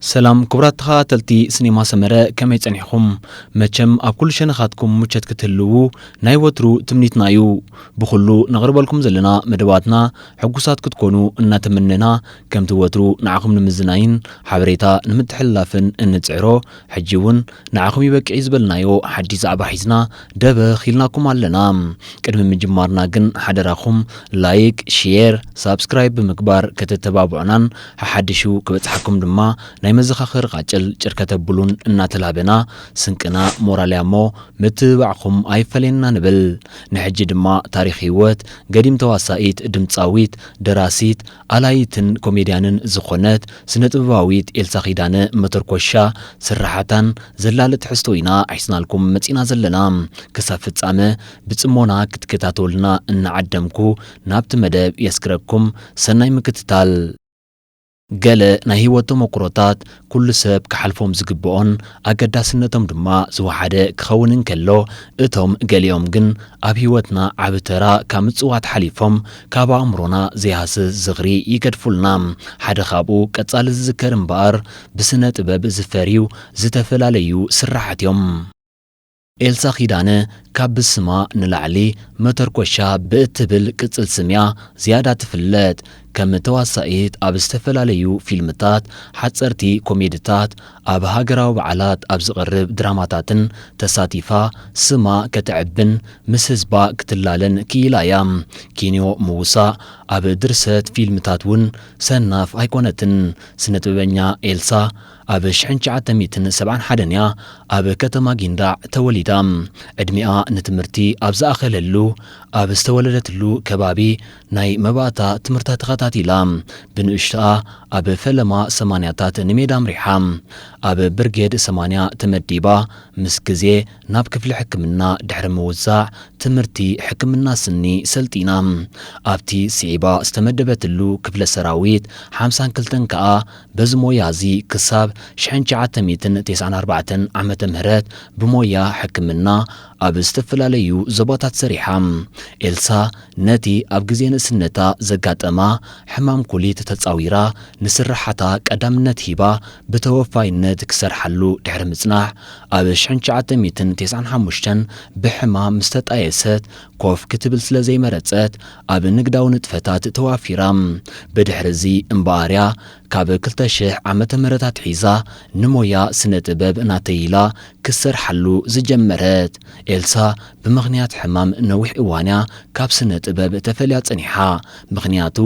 ሰላም ክቡራት ተኻታተልቲ ስኔማ ሰመረ ከመይ ጸኒሕኹም መቸም ኣብ ኩሉ ሸነኻትኩም ሙቸት ክትህልዉ ናይ ወትሩ ትምኒትና እዩ ብኹሉ ነቕርበልኩም ዘለና መደባትና ሕጉሳት ክትኮኑ እናተመነና ከምቲ ወትሩ ንዓኹም ንምዝናይን ሓበሬታ ንምትሕልላፍን እንጽዕሮ ሕጂ ውን ንዓኹም ይበቅዕ'ዩ ዝበልናዮ ሓድሽ ዛዕባ ሒዝና ደበኽ ኢልናኩም ኣለና። ቅድሚ ምጅማርና ግን ሓደራኹም ላይክ፣ ሼር፣ ሳብስክራይብ ብምግባር ከተተባብዑናን ሓሓድሹ ክበጽሓኩም ድማ ናይ መዘኻኸሪ ቃጭል ጭር ከተብሉን እናተላበና ስንቅና ሞራል'ያ'ሞ ምትብባዕኹም ኣይፈለየና ንብል። ንሕጂ ድማ ታሪኽ ህይወት ገዲም ተዋሳኢት፣ ድምጻዊት፣ ደራሲት፣ ኣላዪትን ኮሜድያንን ዝኾነት ስነ-ጥበባዊት ኤልሳ ኪዳነ መተርኮሻ ስርሓታን ዘላሊ ትሕዝቶ ኢና ሒዝናልኩም መጺእና ዘለና። ክሳብ ፍጻመ ብጽሞና ክትከታተሉልና እናዓደምኩ ናብቲ መደብ የስግረኩም። ሰናይ ምክትታል። ገለ ናይ ህይወት ተሞኩሮታት ኩሉ ሰብ ክሓልፎም ዝግበኦን ኣገዳስነቶም ድማ ዝወሓደ ክኸውን እንከሎ፣ እቶም ገሊኦም ግን ኣብ ህይወትና ዓቢ ተራ ካብ ምጽዋት ሓሊፎም ካብ ኣእምሮና ዘይሃስስ ዝኽሪ ይገድፉልና። ሓደ ካብኡ ቀጻሊ ዝዝከር እምበኣር ብስነ ጥበብ ዝፈርዩ ዝተፈላለዩ ስርሓት'ዮም። ኤልሳ ኪዳነ ካብ ብስማ ንላዕሊ መተርኮሻ ብእትብል ቅጽል ስም'ያ ዝያዳ ትፍለጥ። ከም ተዋሳኢት ኣብ ዝተፈላለዩ ፊልምታት፣ ሓጸርቲ ኮሜድታት፣ ኣብ ሃገራዊ በዓላት ኣብ ዝቐርብ ድራማታትን ተሳቲፋ ስማ ከተዕብን ምስ ህዝባ ክትላለን ክኢላ'ያ። ኪንዮ ምውሳእ፣ ኣብ ድርሰት ፊልምታት'ውን ሰናፍ ኣይኮነትን። ስነጥበበኛ ኤልሳ፣ ኣብ ሽሕን ትሽዓተ ሚእትን ሰብዓን ሓደን እያ ኣብ ከተማ ጊንዳዕ ተወሊዳ። ዕድሚኣ ንትምህርቲ ኣብ ዝኣኸለሉ ኣብ ዝተወለደትሉ ከባቢ ናይ መባእታ ትምህርታ ተኸታቲላ ብንእሽቶኣ ኣብ ፈለማ ሰማንያታት ንሜዳ ኣምሪሓ ኣብ ብርጌድ ሰማንያ ተመዲባ ምስ ግዜ ናብ ክፍሊ ሕክምና ድሕሪ ምውዛዕ ትምህርቲ ሕክምና ስኒ ሰልጢና ኣብቲ ስዒባ ዝተመደበትሉ ክፍለ ሰራዊት ሓምሳን ክልተን ከኣ በዚ ሞያ እዚ ክሳብ ሽሕን ትሽዓተ ሚእትን ቴስዓን ኣርባዕተን ዓመተ ምህረት ብሞያ ሕክምና ኣብ ዝተፈላለዩ ዞባታት ሰሪሓ። ኤልሳ ነቲ ኣብ ግዜ ንእስነታ ዘጋጠማ ሕማም ኩሊት ተጻዊራ ንስርሓታ ቀዳምነት ሂባ ብተወፋይነት ክትሰርሓሉ ድሕሪ ምጽናሕ ኣብ ሽሕን ትሽዓተ ሚእትን ቴስዓን ሓሙሽተን ብሕማም ምስተጣየሰት ኮፍ ክትብል ስለ ዘይመረጸት ኣብ ንግዳዊ ንጥፈታት ተዋፊራ። ብድሕርዚ እምበኣር'ያ ካብ ክልተ ሽሕ ዓመተ ምህረት ኣትሒዛ ንሞያ ስነ ጥበብ ናተይ ኢላ ክትሰርሓሉ ዝጀመረት። ኤልሳ ብምኽንያት ሕማም ነዊሕ እዋን'ያ ካብ ስነ ጥበብ ተፈልያ ጸኒሓ፣ ምኽንያቱ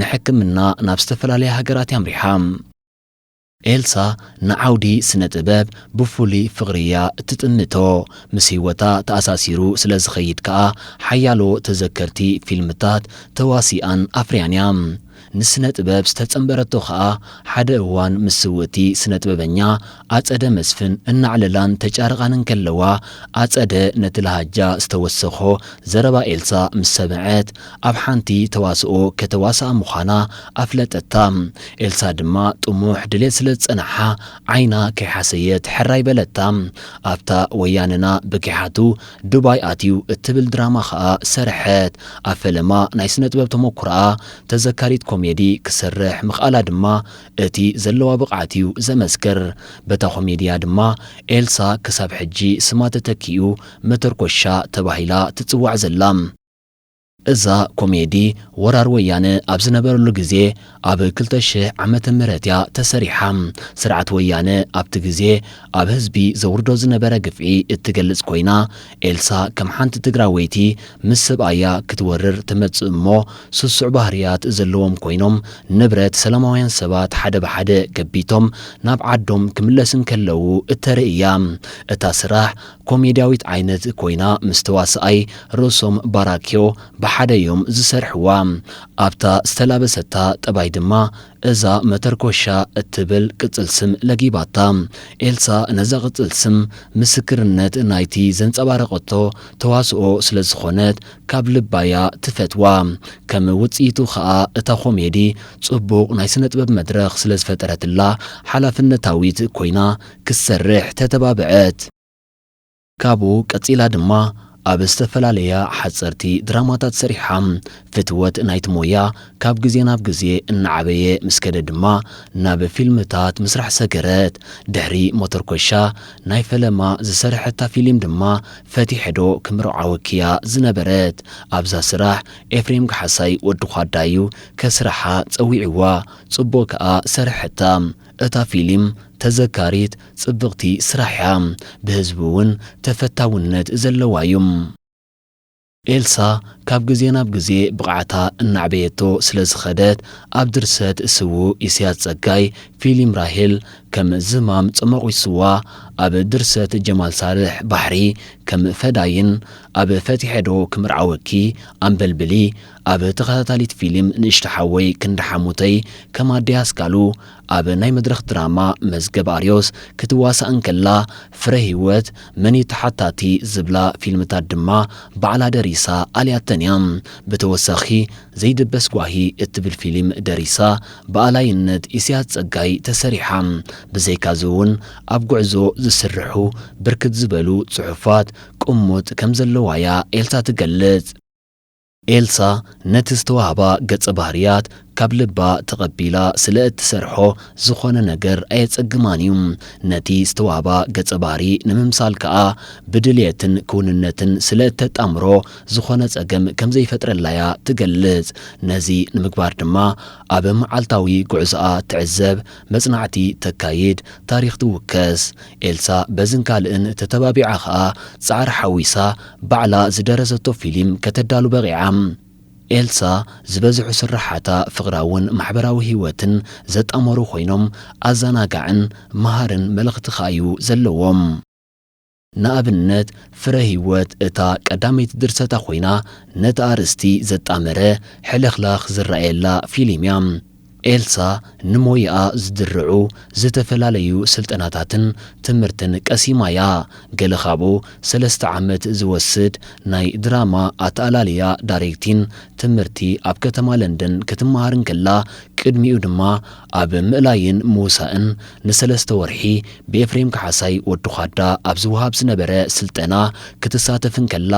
ንሕክምና ናብ ዝተፈላለያ ሃገራት'ያ ኣምሪሓ። ኤልሳ ንዓውዲ ስነ ጥበብ ብፍሉይ ፍቕሪ እያ እትጥምቶ፣ ምስ ህይወታ ተኣሳሲሩ ስለ ዝኸይድ ከኣ ሓያሎ ተዘከርቲ ፊልምታት ተዋሲኣን ኣፍርያን እያ። ንስነ ጥበብ ዝተጸንበረቶ ከኣ ሓደ እዋን ምስ ስውእቲ ስነ ጥበበኛ ኣጸደ መስፍን እናዕለላን ተጫርቓን እንከለዋ ኣጸደ ነቲ ለሃጃ ዝተወሰኾ ዘረባ ኤልሳ ምስ ሰምዐት ኣብ ሓንቲ ተዋስኦ ከተዋስኣ ምዃና ኣፍለጠታ። ኤልሳ ድማ ጥሙሕ ድሌት ስለ ዝጸንሓ ዓይና ከይሓሰየት ሕራይ በለታ። ኣብታ ወያነና ብጊሓቱ ዱባይ ኣትዩ እትብል ድራማ ከኣ ሰርሐት። ኣብ ፈለማ ናይ ስነጥበብ ተመኩሮኣ ተዘካሪት ኮሜዲ ክትሰርሕ ምኽኣላ ድማ እቲ ዘለዋ ብቕዓት'ዩ ዘመስክር። በታ ኮሜዲ'ያ ድማ ኤልሳ ክሳብ ሕጂ ስማ ተተኪኡ መተርኮሻ ተባሂላ ትጽዋዕ ዘላ። እዛ ኮሜዲ ወራር ወያነ ኣብ ዝነበረሉ ግዜ ኣብ ክልተ ሽሕ ዓመተ ምህረት እያ ተሰሪሓ። ስርዓት ወያነ ኣብቲ ግዜ ኣብ ህዝቢ ዘውርዶ ዝነበረ ግፍዒ እትገልጽ ኮይና ኤልሳ ከም ሓንቲ ትግራወይቲ ምስ ሰብኣያ ክትወርር ትመጽእ እሞ ስሱዕ ባህርያት ዘለዎም ኮይኖም ንብረት ሰላማውያን ሰባት ሓደ ብሓደ ገቢቶም ናብ ዓዶም ክምለስ እንከለዉ እተርኢ እያ። እታ ስራሕ ኮሜድያዊት ዓይነት ኮይና ምስ ተዋሳኣይ ሮሶም ባራኪዮ ብሓደ ዮም ዝሰርሕዋ። ኣብታ ዝተላበሰታ ጠባይ ድማ እዛ መተርኮሻ እትብል ቅጽል ስም ለጊባታ። ኤልሳ ነዛ ቅጽል ስም ምስክርነት ናይቲ ዘንጸባረቐቶ ተዋስኦ ስለ ዝኾነት ካብ ልባ'ያ ትፈትዋ። ከም ውጽኢቱ ከኣ እታ ኮሜዲ ጽቡቕ ናይ ስነጥበብ መድረኽ ስለ ዝፈጠረትላ ሓላፍነታዊት ኮይና ክትሰርሕ ተተባብዐት። ካብኡ ቀጺላ ድማ ኣብ ዝተፈላለያ ሓጸርቲ ድራማታት ሰሪሓ። ፍትወት ናይቲ ሞያ ካብ ግዜ ናብ ግዜ እናዓበየ ምስ ከደ ድማ ናብ ፊልምታት ምስራሕ ሰገረት። ድሕሪ ሞተርኮሻ ናይ ፈለማ ዝሰርሐታ ፊሊም ድማ ፈቲሐ'ዶ ክምርዓወኪ'ያ ዝነበረት። ኣብዛ ስራሕ ኤፍሬም ካሕሳይ ወዲ ዃዳ'ዩ ከስርሓ ጸዊዕዋ። ጽቡቕ ከኣ ሰርሐታ። እታ ፊሊም ተዘካሪት ጽብቅቲ ስራሕ እያ ብህዝቢ ውን ተፈታውነት ዘለዋ እዩ። ኤልሳ ካብ ግዜ ናብ ግዜ ብቕዓታ እናዕበየቶ ስለ ዝኸደት ኣብ ድርሰት ስዉእ ኢሰያስ ጸጋይ ፊሊም ራሄል ከም ዝማም ጸሞቒሱዋ ኣብ ድርሰት ጀማል ሳልሕ ባሕሪ ከም ፈዳይን ኣብ ፈቲሐ'ዶ ክምርዓወኪ ኣምበልብሊ ኣብ ተኸታታሊት ፊሊም ንእሽቶ ሓወይ ክንዲ ሓሙተይ ከም ኣደይ ኣስካሉ ኣብ ናይ መድረኽ ድራማ መዝገብ ኣርዮስ ክትዋሳእ እንከላ ፍረ ሂወት መን እዩ ተሓታቲ ዝብላ ፊልምታት ድማ ባዕላ ደሪሳ ኣልያተን እያ ብተወሳኺ ዘይድበስ ጓሂ እትብል ፊሊም ደሪሳ ብኣላይነት ኢሰያስ ጸጋይ ተሰሪሓ ብዘይካዚ እውን ኣብ ጉዕዞ ዝስርሑ ብርክት ዝበሉ ጽሑፋት ቅሙጥ ከም ዘለዋ እያ ኤልሳ ትገልጽ። ኤልሳ ነቲ ዝተዋህባ ገጸ ባህርያት ካብ ልባ ተቐቢላ ስለ እትሰርሖ ዝኾነ ነገር ኣየጸግማን እዩ። ነቲ ዝተዋህባ ገጸ ባህሪ ንምምሳል ከኣ ብድልየትን ክውንነትን ስለ እተጣምሮ ዝኾነ ጸገም ከም ዘይፈጥረላ እያ ትገልጽ። ነዚ ንምግባር ድማ ኣብ መዓልታዊ ጉዕዞኣ ትዕዘብ፣ መጽናዕቲ ተካይድ፣ ታሪኽ ትውከስ። ኤልሳ በዝን ካልእን ተተባቢዓ ከኣ ጻዕሪ ሓዊሳ ባዕላ ዝደረሰቶ ፊሊም ከተዳሉ በቒዓ። ኤልሳ ዝበዝሑ ስርሓታ ፍቕራውን ማሕበራዊ ህይወትን ዘጣመሩ ኮይኖም ኣዛናጋዕን መሃርን መልኽቲ ከኣ እዩ ዘለዎም። ንኣብነት ፍረ ህይወት እታ ቀዳመይቲ ድርሰታ ኮይና ነቲ ኣርእስቲ ዘጣመረ ሕልኽላኽ ዝረኣየላ ፊሊም እያ። ኤልሳ ንሞያኣ ዝድርዑ ዝተፈላለዩ ስልጠናታትን ትምህርትን ቀሲማ እያ። ገለ ካብኡ ሰለስተ ዓመት ዝወስድ ናይ ድራማ ኣተኣላልያ ዳሬክቲን ትምህርቲ ኣብ ከተማ ለንደን ክትመሃር እንከላ ቅድሚኡ ድማ ኣብ ምእላይን ምውሳእን ንሰለስተ ወርሒ ብኤፍሬም ካሓሳይ ወዲ ዃዳ ኣብ ዝወሃብ ዝነበረ ስልጠና ክትሳተፍ እንከላ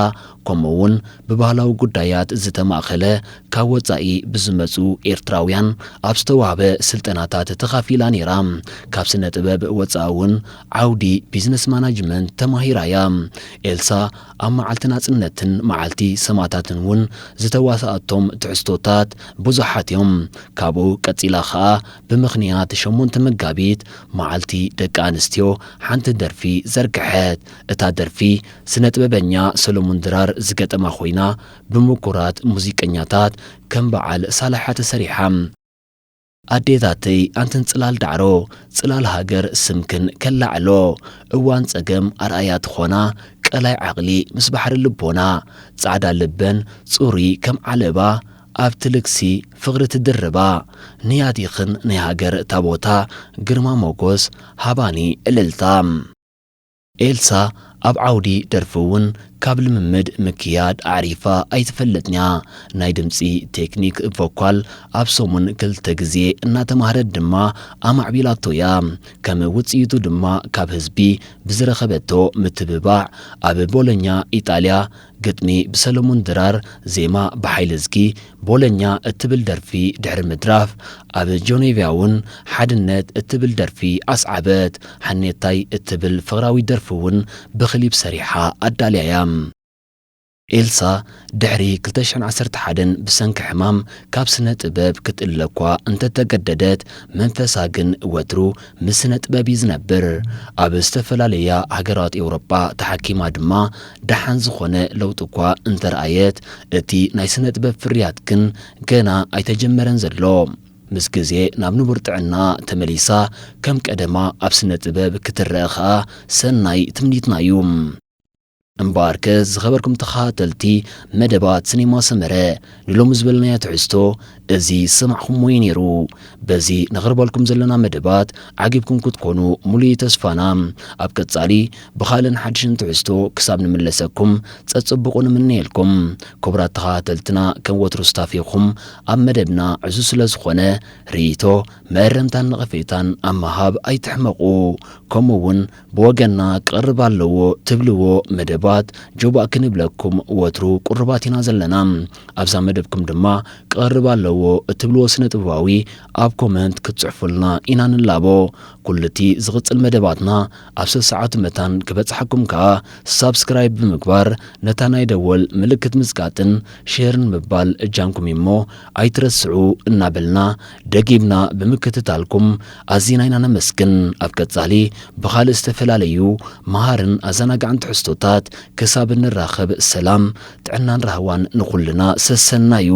ከምኡ'ውን ብባህላዊ ጉዳያት ዝተማእከለ ካብ ወጻኢ ብዝመጹ ኤርትራውያን ኣብ ዝተዋህበ ስልጠናታት ተኻፊላ ነይራ። ካብ ስነ-ጥበብ ወጻኢ እውን ዓውዲ ቢዝነስ ማናጅመንት ተማሂራ እያ። ኤልሳ ኣብ መዓልቲ ናጽነትን መዓልቲ ሰማእታትን እውን ዝተዋስኣቶም ትሕዝቶታት ብዙሓት እዮም። ካብኡ ቀጺላ ከኣ ብምኽንያት ሸሞንተ መጋቢት መዓልቲ ደቂ ኣንስትዮ ሓንቲ ደርፊ ዘርግሐት። እታ ደርፊ ስነ-ጥበበኛ ሰለሙን ድራር ዝገጠማ ኮይና ብምኩራት ሙዚቀኛታት ከም በዓል ሳላሓ ተሰሪሓ። ኣዴታተይ ኣንትን ጽላል ዳዕሮ ጽላል ሃገር ስምክን ከላዕሎ እዋን ጸገም ኣርኣያ ትኾና ቀላይ ዓቕሊ ምስ ባሕሪ ልቦና ጻዕዳ ልበን ጽሩይ ከም ዓለባ ኣብቲ ልግሲ ፍቕሪ ትድርባ ንያቲኽን ናይ ሃገር ታቦታ ግርማ ሞጎስ ሃባኒ እልልታ ኤልሳ ኣብ ዓውዲ ደርፊ እውን ካብ ልምምድ ምክያድ ኣዕሪፋ ኣይትፈልጥን'ያ። ናይ ድምጺ ቴክኒክ፣ ቮኳል፣ ኣብ ሰሙን ክልተ ግዜ እናተማህረት ድማ ኣማዕቢላቶ'ያ። ከም ውጽኢቱ ድማ ካብ ህዝቢ ብዝረኸበቶ ምትብባዕ ኣብ ቦሎኛ፣ ኢጣልያ፣ ግጥሚ ብሰለሙን ድራር ዜማ ብሓይለዝጊ ቦለኛ እትብል ደርፊ ድሕሪ ምድራፍ ኣብ ጆኔቭያውን ሓድነት እትብል ደርፊ ኣስዓበት። ሓኔታይ እትብል ፍቕራዊት ደርፊውን ብክሊፕ ሰሪሓ ኣዳልያ'ያ። ኤልሳ ድሕሪ ክልተ ሽሕን ዓሰርተ ሓደን ብሰንኪ ሕማም ካብ ስነ ጥበብ ክትእለ'ኳ እንተተገደደት መንፈሳ ግን ወትሩ ምስ ስነጥበብ እዩ ዝነብር። ኣብ ዝተፈላለያ ሃገራት ኤውሮጳ ተሓኪማ ድማ ደሓን ዝኾነ ለውጢ እኳ እንተርኣየት፣ እቲ ናይ ስነጥበብ ፍርያት ግን ገና ኣይተጀመረን ዘሎ። ምስ ግዜ ናብ ንቡር ጥዕናኣ ተመሊሳ ከም ቀደማ ኣብ ስነጥበብ ክትረኣ ከኣ ሰናይ ትምኒትና እዩ። እምበኣርከ ዝኸበርኩም ተኸታተልቲ መደባት ስኔማ ሰመረ ንሎሚ ዝበልናዮ ትሕዝቶ እዚ ዝሰማዕኹምዎ እዩ ነይሩ። በዚ ነቕርበልኩም ዘለና መደባት ዓጊብኩም ክትኮኑ ሙሉእ እዩ ተስፋና። ኣብ ቀጻሊ ብኻልእን ሓድሽን ትሕዝቶ ክሳብ ንምለሰኩም ጸጽቡቑ ንምነየልኩም። ክቡራት ተኸታተልትና ከም ወትሩ ስታፌኹም ኣብ መደብና ዕዙዝ ስለ ዝኾነ ርኢቶ፣ መእረምታን ነቐፌታን ኣብ ምሃብ ኣይትሕመቑ። ከምኡ እውን ብወገንና ክቐርብ ኣለዎ ትብልዎ መደባት ጆባእ ክንብለኩም ወትሩ ቁሩባት ኢና ዘለና። ኣብዛ መደብኩም ድማ ክቐርብ ኣለዎ እትብልዎ ስነ-ጥበባዊ ኣብ ኮመንት ክትጽሕፉልና ኢና ንላቦ። ኩሉ'ቲ ዝቕጽል መደባትና ኣብ ሰሰዓቱ መታን ክበጽሓኩም ከኣ ሳብስክራይብ ብምግባር ነታ ናይ ደወል ምልክት ምጽቃጥን ሼርን ምባል እጃምኩም እዩ'ሞ ኣይትረስዑ እናበልና ደጊምና ብምክትታልኩም ኣዚና ኢና ነመስግን። ኣብ ቀጻሊ ብኻልእ ዝተፈላለዩ መሃርን ኣዘናጋዕን ትሕዝቶታት ክሳብ እንራኸብ ሰላም፣ ጥዕናን ራህዋን ንኹልና። ሰሰናዩ።